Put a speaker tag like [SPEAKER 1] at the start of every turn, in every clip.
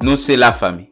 [SPEAKER 1] Nou se la fami.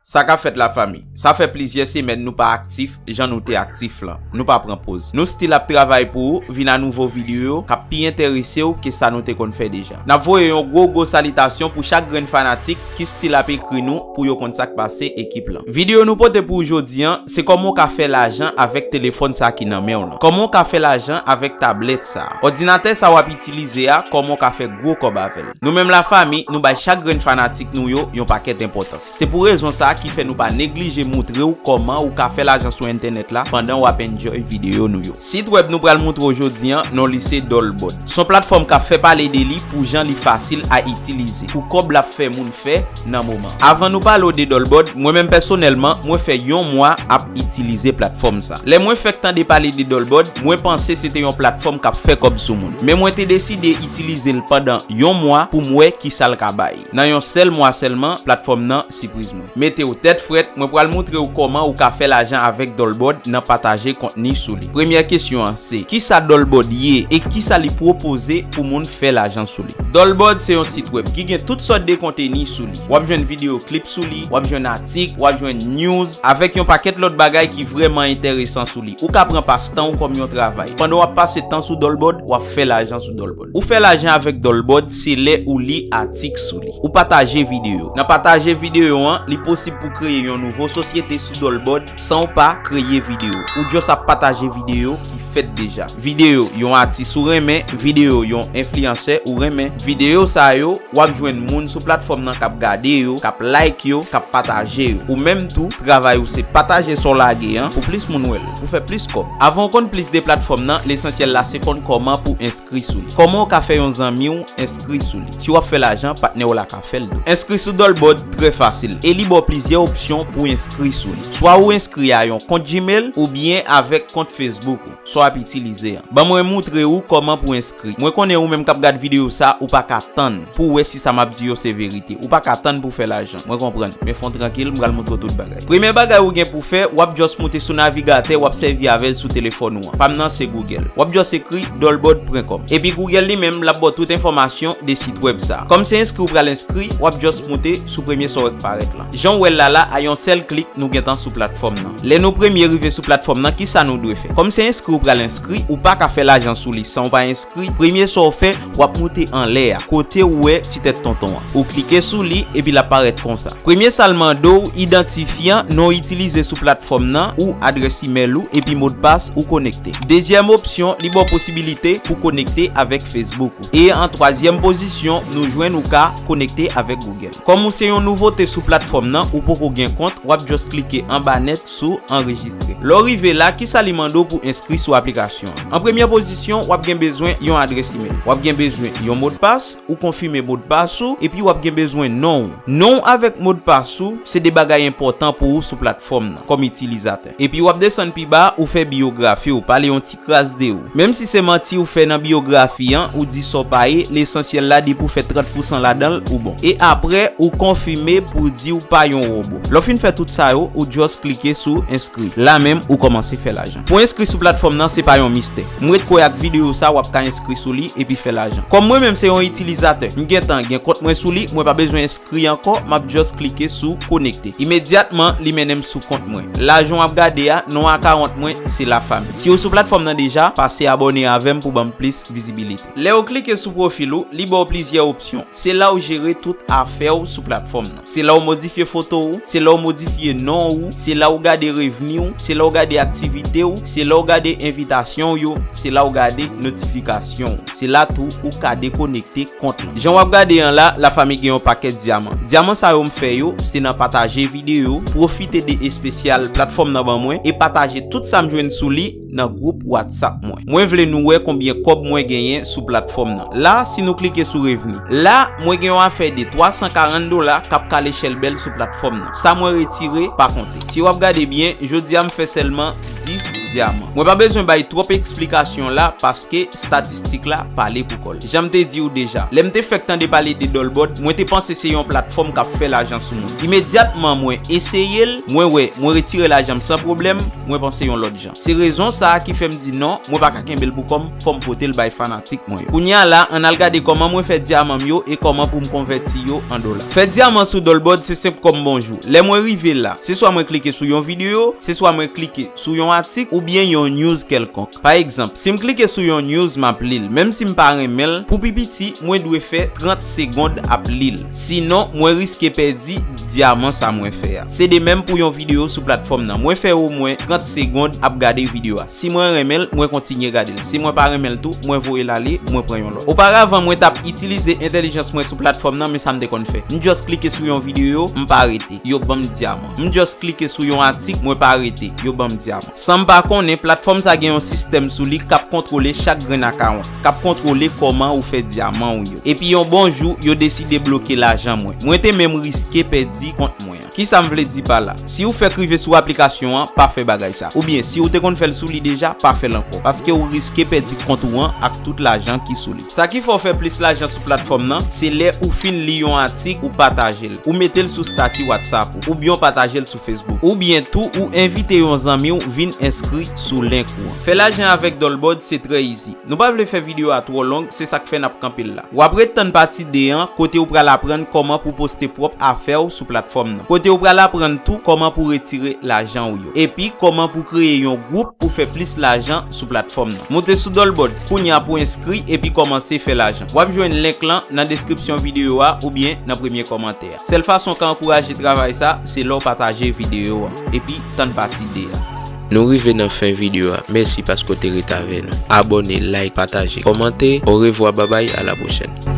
[SPEAKER 1] Sa kap fèt la fami? Sa fè plizyè semèn nou pa aktif jan nou te aktif lan. Nou pa pran poz. Nou still ap travay pou ou, vin a nouvo video kap pi enteresew ke sa nou te konn fè deja. Nap voye yon gwo gwo salitasyon pou chak grenn fanatik ki stil ap ekri nou pou yo konn sak pase ekip lan. Video nou pote pou ou jodi an, se kòman ou ka fè lajan avèk telefòn sa ki nan menw lan. Kòman ou ka fè lajan avèk tablèt sa. Òdinatè sa wap itilize a kòman ou ka fè gwo kòb avèl. Nou menm la fami nou bay chak grenn fanatik nou yo yon pakèt enpòtans. Se pou rezon sa a ki fè nou pa neglije moutre w kòman ou ka fè lajan sou entènèt la pandan w ap enjoy videyo nou yo. Sit wèb nou pral moutre w jodi an, non li se Dollbot. S on platfòm k ap fè pale de li pou jan li fasil a itilize, pou kòb l ap fè moun fè nan moman. Avan nou pale w de Dollbot, mwen menm pèsonèlman, mwen fè yon mwa ap itilize platfòm sa. Lè mwen fèk tande pale de Dollbot, mwen panse se te yon platfòm k ap fè kòb sou moun. Men mwen te deside itilize l pandan yon mwa pou m wè kisa l ka bay. Nan yon sèl mwa sèlman platfòm nan sipriz mwen. Metew tèt frèt, mwen pral moutrew kòman ou ka fè lajan avèk Dolbord nan pataje kontni sou li. Premyè kesyon an se, kisa Dolbord ye e kisa li pwopoze pou moun fè lajan sou li? Dolbord se yon sit wèb ki gen tout sòt de konteni sou li. Wap jwenn videyo klip sou li, wap jwenn atik, wap jwenn news, avèk yon pakèt lòt bagay ki vrèman enteresan sou li. Ou ka pran pastanw kòm yon travay. Pandan wap pase tan sou Dolbord, wap fè lajan sou Dolbord. Ou fè lajan avèk Dolbot se lè ou li atik sou li. Ou pataje videyo. Nan pataje videyo an, li posib pou kreye yon nouvo sosyete sou Dolbot san w pa kreye videyo. Ou just ap pataje videyo ki fèt deja. Videyo yon atis ou renmen, videyo yon enfliyansè ou renmen. Videyo sa yo, w ap jwenn moun sou platfòm nan k ap gade yo, k ap like yo, k ap pataje yo. Ou menm tou, travay ou se pataje sa w lage an pou plis moun wè l. pou fè plis kòb. Avan w konn plis de platfòm nan, lesansyèl la se konn kòman pou w enskri sou li. Kòman w ka fè yon zanmi w enskri sou li. Si w ap fè lajan, patnè w la ka fè l tou. Enskri sou Dolbot trè fasil e li ba w plizyè opsyon pou w enskri sou li. Swa ou enskri a yon kont Gmail oubyen avèk kont Facebook ou, sa w ap itilize an. Ban mwen moutre ou kòman pou w enskri. Mwen konnen ou menm k ap gad videyo sa, ou pa ka tann pou w wè si sa m ap di yo se verite. Ou pa ka tann pou w fè lajan. Mwen konprann, men fon trankil, m pral moutre w tout bagay. Premye bagay ou gen pou w fè, w ap just moute sou navigatè w ap sèvi avè l sou telefòn ou an. Pa m nan se Google. W ap just ekri Dolbord pwen kòm. Epi Google li menm, l ap ba w tout enfòmasyon de sit wèb sa a. Kòm se enskri w pral enskri, w ap just moute sou premye sa w wè k parèt lan. Jan w wè l la la, a yon sèl klik, nou gentan sou platfòm nan. Lè nou premye rive sou platfòm nan, kisa nou dwe fè? Kòm se enskri w pral enskri, ou pa ka fè lajan sou li san w pa enskri, premye sa w fè, Wap moute anlè a, kote ou wè ti tèt tonton an. Ou klike sou li, epi lap parèt konsa. Premye sa l mande w, idantifyan, non w itilize sou platfòm nan, ou adrès imèl ou, epi modpas ou konekte. Dezyèm opsyon, li ba w posibilite pou konekte avèk Facebook ou. E an twazyèm pozisyon, nou jwenn ou ka konekte avèk Google. Kòm ou se yon nouvote sou platfòm nan, ou poko gen kont, wap just klike anba nèt, sou Anrejistre. Lè w rive la, kisa li mande w pou w enskri sou aplikasyon an? An premyè pozisyon, w ap gen bezwen yon adrès imel. W ap gen bezwen yon modpas, ou konfime modpas ou, epi w ap gen bezwen non w. Non w avèk modpas ou se 2 bagay enpòtan pou ou sou platfòm nan, kòm itilizatè. Epi w ap desann pi ba, ou fè biyografi w, pale yon ti. Kras de ou. Menm si se manti ou fè nan biyografi an, ou di sa w pa ye, lesansyèl la depi w fè 30 pousan ladan l, ou bon. E aprè, ou konfime pou w di w pa yon wobo. Lè w fin fè tout sa yo, ou just klike sou enskri. La menm, ou kòmanse fè lajan. Pou enskri sou platfòm nan, se pa yon mistè. M ret kwè ak videyo sa w ap ka enskri sou li epi fè lajan. Kòm mwen menm se yon itilizatè, m gentan gen kont mwen sou li, mwen pa bezwen enskri ankò, m ap just klike sou konekte. Imedyatman li mennen m sou kont mwen. La jan w ap gade a, non akawont mwen se Lafamy. Si ou sou platfòm nan deja, pase abòne avè m pou ban m plis vizibilite. Lè ou klike sou pwofil ou, li ba w plizyè opsyon. Se la ou jere tout afè ou sou platfòm nan. Se la ou modifye foto ou, se la ou modifye non ou, se la ou gade revni ou, se la ou gade aktivite ou, se la ou gade envitasyon w yo, se la ou gade notifikasyon ou. Se la tou ou ka dekonekte kont ou. Jan wap gade an la, la fami gen yon pakèt dyaman. Dyaman sa yo m fè yo, se nan pataje videyo, pwofite de espesyal platfòm nan ban mwen e pataje tout sa m jwenn sou li nan gwoup WhatsApp mwen. Mwen vle nou wè konbyen kòb mwen genyen sou platfòm nan. La, si nou klike sou revni. La, mwen gen yon afè de 340 dola kap kale chèlbèl sou platfòm nan. Sa mwen retire, pa konte. Si wap gade byen, jodi a m fè sèlman 10 dyaman. Mwen pa bezwen bay twòp eksplikasyon la, pas. Paske statistik la pale pou kòl. Janm te di ou deja, lèm te fèk tande pale de Dolbòd, mwen te panse se yon platfòm kap fè lajan sou moun. Imedyatman mwen eseyel, mwen wè, mwen retire lajanm san pwoblèm, mwen panse yon lòt jan. Se rezon sa ki fèm di non, mwen pa ka kenbel pou kòm, fòm potel bay fanatik mwen yo. Kounye a la, ann al gade kòman mwen fè dyamanm yo e kòman poum konvèti yo an dola. Fè dyaman sou Dolbòd se senp kòm bonjou. Lè mwen rive la, se swa mwen klike sou yon videyo, se swa mwen klike. sou yon atik oubyen yon news kèlkonk. Pa egzanp, si m klike sou yon news m ap li l, menm si m pa renmen l, pou pi piti mwen dwe fè 30 segond ap li l. Sinon, mwen riske pèdi dyaman sa mwen fè a. Se de menm pou yon videyo sou platfòm nan. Mwen fè omwen 30 segond ap gade videyo a. Si mwen renmen l, mwen kontinye gade l. Si mwen pa renmen l tou, mwen voye l ale, mwen pran yon lòt. Oparavan mwen t ap itilize entèlijans mwen sou platfòm nan men sa m te konn fè. M just klike sou yon videyo, m pa rete. Yo ban m dyaman. M just klike sou yon atik mwen pa rete, yo banm dyab. Sanm pa konnen, platfòm sa gen yon sistèm sou li kap kontwole chak grenn akawont, kap kontwole kòman ou fè dyaman ou yo. Epi yon bon jou, yo deside bloke lajan mwen. Mwen te menm riske pèdi kont mwen an. Kisa m vle di pa la? Siw fèk rive sou aplikasyon an, pa fè bagay sa. Oubyen siw te konn fèl sou li deja, pa fèl ankò. Paskew riske pèdi kont ou an ak tout lajan ki sou li. Sa ki fè w fè plis lajan sou platfòm nan, se lè ou fin li yon atik ou pataje l, ou mete l sou stati WhatsApp ou, oubyen w pataje l sou Facebook. Oubyen tou ou envite yon zanmi w vin enskri sou link ou an. Fè lajan avèk Dolbord se trè izi. Nou pa vle fè videyo a twò long, se sak fè nap kanpe l la. Wap ret tann pati 2 an kote ou pral aprann kòman pou poste pwòp afè w sou platfòm nan. Kote ou pral aprann tou kòman pou retire lajan w yo. Epi kòman pou kreye yon gwoup pou fè plis lajan. sou platfòm nan. Moute sou Dolbot kounya pou enskri epi kòmanse fè lajan. Wap jwenn link lan nan deskripsyon videyo a oubyen nan premye kòmantè a. Sèl fason ka ankouraje travay sa se lèw pataje videyo an epi tann pati 2 a. Nou rive nan
[SPEAKER 2] fen videyo a mèsi paske w te ret avè nou abòne like pataje kòmante orevwa babay a la pwochèn.